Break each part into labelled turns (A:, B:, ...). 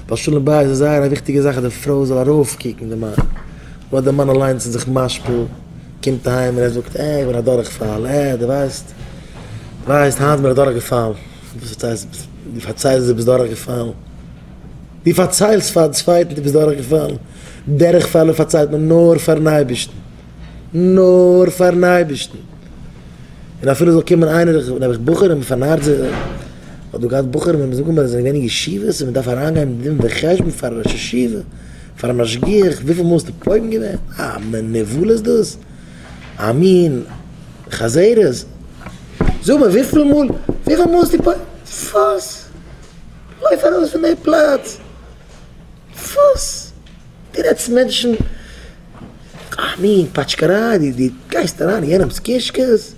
A: ווייל שלום בית איז זייער א וויכטיגע זאך אז די פרוי זאל ארויפקוקן די מאן, אבער אויב די מאן אליינס איז זיך משפיל, קומט אהיים און ער זאגט, אה, איך בין א דורכפאל, אה, דו ווייסט, דו ווייסט, היינט בין איך דורכגעפאלן, דו פארציילסט, דו פארציילסט דו ביסט דורכגעפאלן, דו פארציילסט פארן צווייטן דו ביסט דורכגעפאלן, דורכפעלער פארציילט מען נאר פארן אייבערשטן. נאר פארן אייבערשטן, און אפילו זאל קומען איינער, נעבעך בחורים, פארנארט זיך, כ'האב דא געהאט בחורים וועמען זאגן מיר אז זיי זענען געווען אין ישיבות און מען דארף אריינגיין דין וחשבון פארן ראש ישיבה, פארן משגיח, וויפיל מאל האסטו פוגם געווען, א מין נבלה איז דאס? א מין חזרות? זאג מיר וויפיל מאל, וויפיל מאל האסטו פוגם? וואס? לויף ארויס פון די פלאץ! וואס? דו רעדסט מענטשן א מין פאטשקעריי, דו גייסט אריין אין יענעמס קישקעס?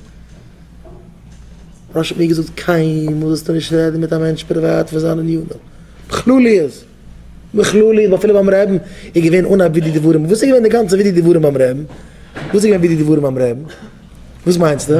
A: רשי האט מיר געזאגט קיינמאל זאלסטו נישט רעדן מיט א מענטש פריוואט פון זיין ענינים, בכלליות, בכלליות אפילו ביים רעבן איז געווען אן א ודי דברים, וואס איז געווען די גאנצע ודי דברים ביים רעבן? וואס איז געווען ודי דברים ביים רעבן? וואס מיינסטו?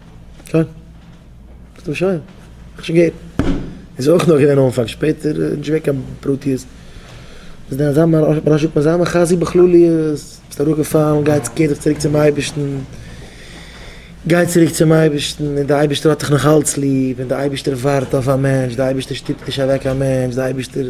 A: שוין. איז דאך שוין. איך שוין געהערט. איז אויך נאר געווען אנפאנג, שפעטער איז נישט געווען קיין פרטיות. איז דען אזא מרשעת אזא מחזי בכלליות? ביסט אראפגעפאלן, גיי צו קער דיך צוריק צום אייבערשטן. גיי צוריק צום אייבערשטן, און די אייבערשטער האט דיך נאך אלץ ליב, און די אייבערשטער ווארט אויף א מענטש, די אייבערשטער שטופט נישט אוועק א מענטש, די אייבערשטער.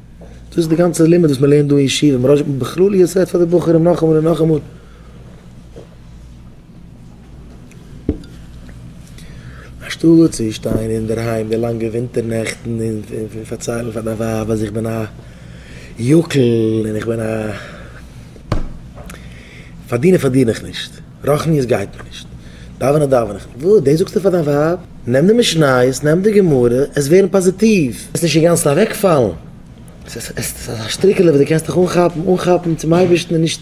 A: דאס איז די גאנצע לימוד וואס מ'לערנט דא אין ישיבה, מ'ר' זשע בכלליות רעדט פאר די בחורים נאכאמאל און נאכאמאל. אנשטאט צו שטיין אינדערהיים די לאנגע ווינטער נעכטן און פארציילן פאר דיין ווייב אז איך בין א יוקל און איך בין א פארדינער פארדין איך נישט. רוחניות גייט מיר נישט, דאווענען דאווען איך, וואו, דאס זאגסטו פאר דיין ווייב? נעם די משניות, נעם די גמרא, עס ווערן פאזיטיוו, עס נישט אינגאנצן אוועקפאלן, עס איז אזא שטריקעלע וואס דו קענסט דיך אנכאפן, אנכאפן צום אייבערשטן און נישט